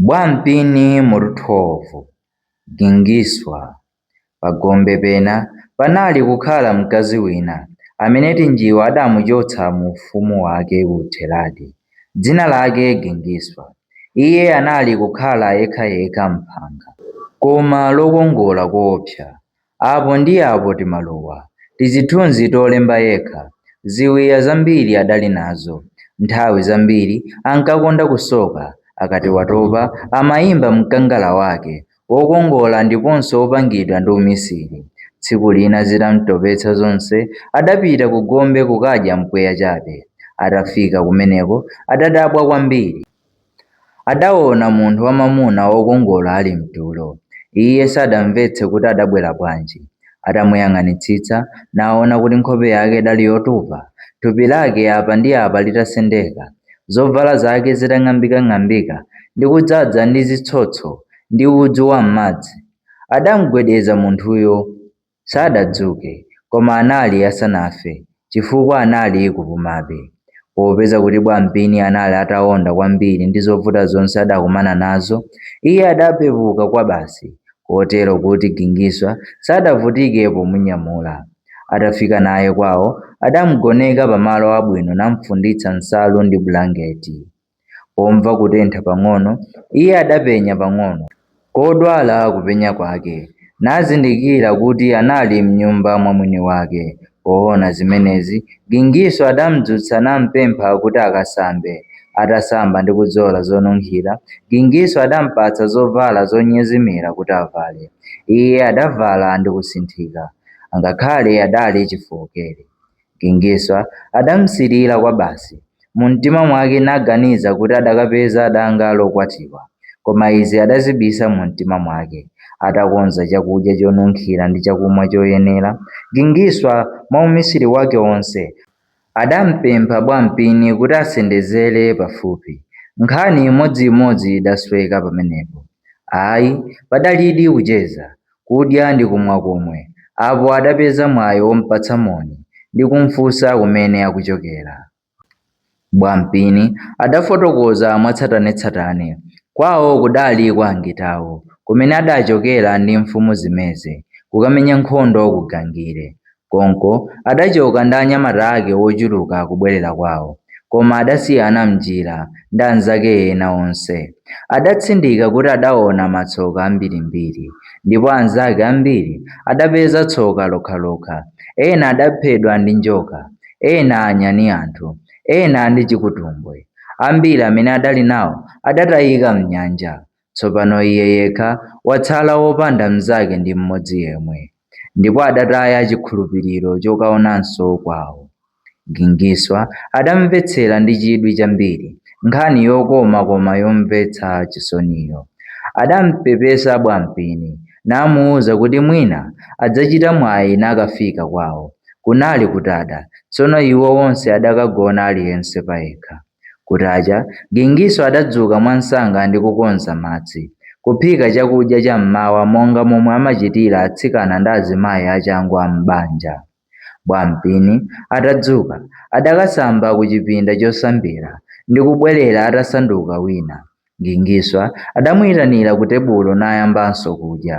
Bwampini mu Ruthovu, Gingiswa, pa gombe pena panali kukhala mkazi wina amene Tinjiwa adamuchotsa mu ufumu wake ku Theradi, dzina lake Gingiswa. Iye anali kukhala yekhayekha m'phanga, koma lokongola koopsa. Apo ndi apo timaluwa, tizithunzi tolemba yekha. Ziwiya zambiri adali nazo. Nthawi zambiri ankakonda kusoka. Akati watopa amayimba mkangala wake wokongola ndiponso wopangidwa ndi umisiri. Tsiku lina zitam'topetsa zonse adapita kugombe kukadya mpweya chabe. Atafika kumeneko adadabwa kwambiri. Adaona munthu wamwamuna wokongola ali mtulo. Iye sadamvetse kuti adabwera bwanji. Atamuyang'anitsitsa, naona kuti nkhope yake idali yotupa, thupi lake apa ndi apa litasendeka, zovala zake zitang'ambikang'ambika ndi kudzaza ndi zitsotso ndi udzu wam'madzi. Adamgwedeza munthuyo. Sadadzuke, koma anali asanafe chifukwa anali kupumabe. Popeza kuti Bwampini anali ataonda kwambiri ndi zovuta zonse adakumana nazo, iye adapepuka kwabasi kotero kuti Gingiswa sadavutike pomunyamula. Atafika naye kwawo, adamgoneka pamalo abwino namfunditsa nsalu ndi bulangeti. Pomva kutentha pang'ono, iye adapenya pang'ono kodwala kupenya kwake, nazindikira kuti anali m'nyumba mwa mwini wake. Poona zimenezi, Gingiswa adamdzutsa nampempha kuti akasambe. Atasamba ndi kudzola zonunkhira, Gingiswa adampatsa zovala zonyezimira kuti avale. Iye adavala ndi kusinthika, angakhale adali chifookere. Gingiswa adamsirira kwabasi, mumtima mwake naganiza kuti adakapeza danga lokwatiwa. Koma izi adazibisa mumtima mwake. Atakonza chakudya chonunkhira ndi chakumwa choyenera, Gingiswa, mwaumisiri wake wonse, adampempha Bwampini kuti asendezere pafupi. Nkhani imodziimodzi idasweka pamenepo. Ayi, padalidi kucheza. kudya ndi kumwa komwe, apo adapeza mwayi wompatsa moni ndi kumfunsa kumene akuchokera. Bwampini adafotokoza mwatsatanetsatane. Kwawo kudali kwa Ngitawo, kumene adachokera ndi mfumu Zimeze kukamenya nkhondo ku Gangire. Konko adacoka ndi anyamata ake wochuluka kubwerera kwawo, koma adasiyana m'njira, ndi anzake ena onse. Adatsindika kuti adaona matsoka ambirimbiri, ndipo anzake ambiri adapeza tsoka lokhalokha, ena adaphedwa ndi njoka, ena anyani anthu, ena ndi chikutumbwe. Ambiri amene adali nawo adatayika m'nyanja. Tsopano iye yekha watsala wopanda mnzake ndi mmodzi yemwe, ndipo adataya chikhulupiriro chokaonanso kwawo. Gingiswa adamvetsera ndi chidwi chambiri nkhani yokoma koma yomvetsa chisoniyo. Adampepesa Bwampini namuuza kuti mwina adzachita mwayi nakafika kwawo. Kunali kutada, tsono iwo onse adakagona aliyense payekha. Kutacha, Gingiswa adadzuka mwamsanga ndi kukonza madzi, kuphika chakudya cha m'mawa monga momwe amachitira atsikana ndi azimayi achangu a m'banja. Bwampini atadzuka, adakasamba kuchipinda chosambira ndi kubwerera atasanduka wina, Gingiswa adamuitanira kutebulo nayambanso kudya.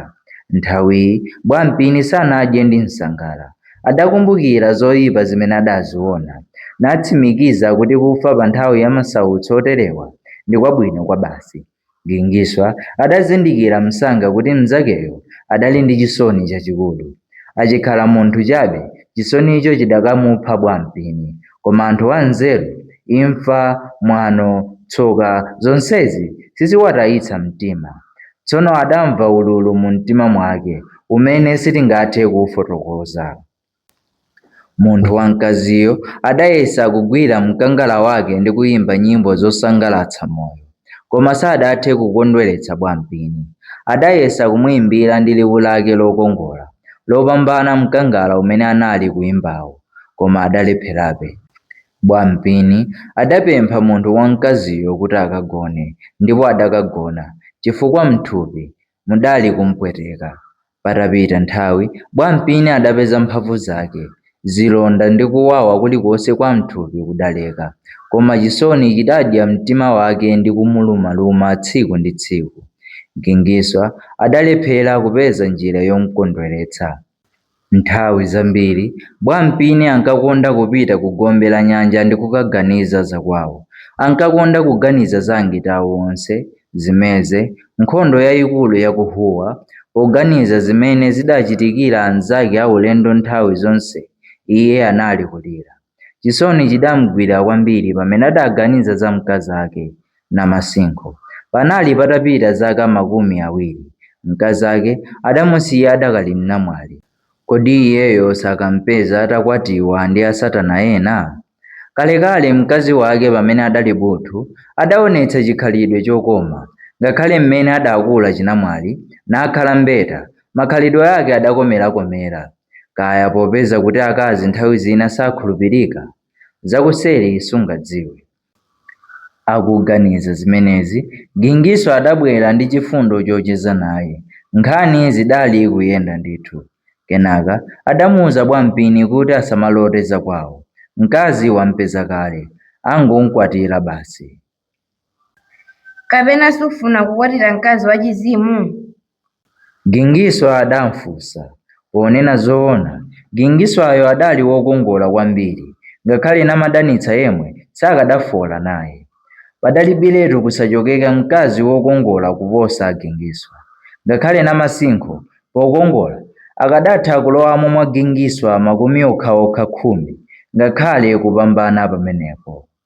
Nthawiyi Bwampini sanadye ndi msangala. Adakumbukira zoipa zimene adaziona, natsimikiza kuti kufa pa nthawi ya masautso oterewa ndi kwabwino kwabasi. Gingiswa adazindikira msanga kuti mnzakeyo adali ndi chisoni chachikulu. Achikhala munthu chabe, chisonicho chidakamupha Bwampini. Koma anthu anzeru, imfa, mwano, tsoka, zonsezi siziwatayitsa mtima. Tsono adamva ululu mumtima mwake umene sitingathe kuufotokoza. Munthu wamkaziyo adayesa kugwira mkangala wake ndi kuimba nyimbo zosangalatsa moyo. Koma sadathe kukondweretsa Bwampini. Adayesa kumuimbira ndi liwu lake lokongola, lopambana mkangala umene anali kuimbawo, koma adalepherabe. Bwampini adapempha munthu wamkaziyo kuti akagone, ndipo adakagona, chifukwa m'thupi mudali kumpweteka. Patapita nthawi, Bwampini adapeza mphamvu zake. Zilonda ndi kuwawa kulikonse kwa m'thupi kudaleka. Koma chisoni chidadya mtima wake ndi kumulumaluma tsiku ndi tsiku. Gingiswa adalephera kupeza njira yomkondweretsa. Nthawi zambiri Bwampini ankakonda kupita kugombe la nyanja ndi kukaganiza za kwawo. Ankakonda kuganiza za angitawo onse, zimeze, nkhondo yaikulu ya ku Huwa, poganiza zimene zidachitikira anzake aulendo nthawi zonse iye anali kulira. Chisoni chidamgwira kwambiri pamene adaganiza za mkazake, Namasinkho. Panali patapita zaka makumi awiri mkazake adamusiya adakali mnamwali. Kodi iyeyo sakampeza atakwatiwa ndi asatana ena? Kalekale mkazi wake pamene adali buthu adaonetsa chikhalidwe chokoma. Ngakhale mmene adakula chinamwali nakhala mbeta, makhalidwe ake adakomerakomera. Kaya popeza kuti akazi nthawi zina sakhulupirika, zakuseri sungadziwe. Akuganiza zimenezi, Gingiswa adabwera ndi chifundo chocheza naye. Nkhani zidali kuyenda ndithu. Kenaka adamuuza Bwampini kuti asamalote zakwawo. Mkazi wampeza kale, angomkwatira basi. Kapena sufuna kukwatira mkazi wachizimu? Gingiswa adamfunsa. Ponena zoona, Gingiswayo adali wokongola kwambiri, ngakhale Namadanitsa yemwe sakadafola naye. Padalibiretu kusachokeka mkazi wokongola kuposa Gingiswa. Ngakhale Namasinkho, pokongola, akadatha kulowamo mwa Gingiswa makumi okhaokha khumi, ngakhale kupambana pamenepo.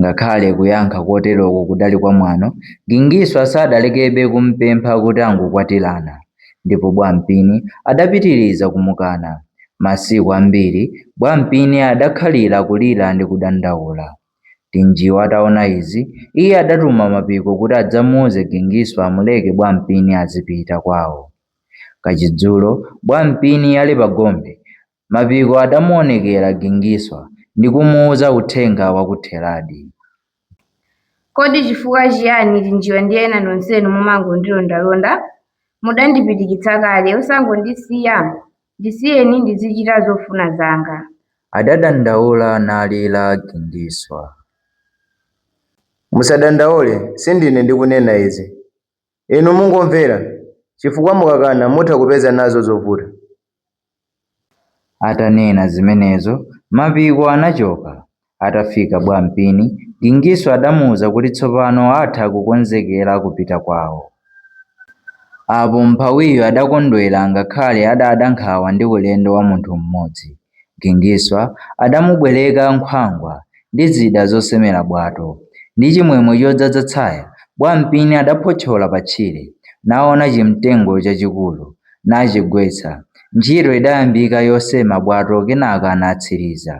Ngakhale kuyankha koteroko kudali kwamwano, Gingiswa sadalekebe kumpempha kuti angokwatirana. Ndipo Bwampini adapitiriza kumukana. Masiku ambiri Bwampini adakhalira kulira ndi kudandaula. Tinjiwa ataona izi, iye adatuma Mapiko kuti adzamuuze Gingiswa amuleke Bwampini azipita kwawo. Kachidzulo Bwampini ali pagombe, Mapiko adamuonekera Gingiswa ndi kumuuza uthenga wa ku Theradi. Kodi chifukwa chiyani Tinjiwa ndi ena nonsenu mumangondilondalonda? Mudandipitikitsa kale, osangondisiya? Ndisiyeni ndizichita zofuna zanga. adadandaula nalira Gingiswa. Musadandaule, sindine ndikunena izi. Inu mungomvera, chifukwa mukakana mutha kupeza nazo zovuta. Atanena zimenezo, Mapiko anachoka. Atafika Bwampini, Gingiswa adamuuza kuti tsopano atha kukonzekera kupita kwawo. Apo mmphawiyo adakondwera ngakhale adada nkhawa ndi ulendo wa munthu mmodzi. Gingiswa adamubwereka nkhwangwa ndi zida zosemera bwato. Ndi chimwemwe chodzadza tsaya, Bwampini adaphotchola patchire, naona chimtengo chachikulu, nachigwetsa. Ntchito idayambika yosema bwato kenaka anatsiriza.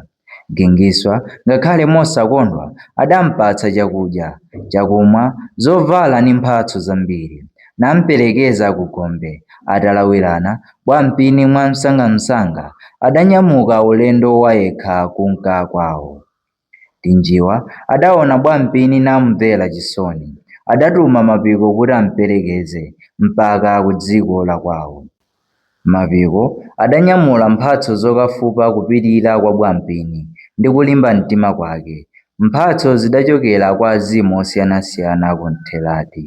Gingiswa, ngakhale mosakondwa, adampatsa chakudya, chakumwa, zovala ndi mphatso zambiri, namperekeza kugombe, atalawirana Bwampini mwamsangamsanga adanyamuka ulendo wayekha kunka kwawo. Tinjiwa adaona Bwampini namumvera chisoni. Adatuma Mapiko kuti amperekeze mpaka kudziko lakwawo. Mapiko adanyamula mphatso zokafupa kupirira kwa Bwampini ndi kulimba mtima kwake. Mphatso zidachokera kwa azimu osiyanasiyana ku Ntheradi.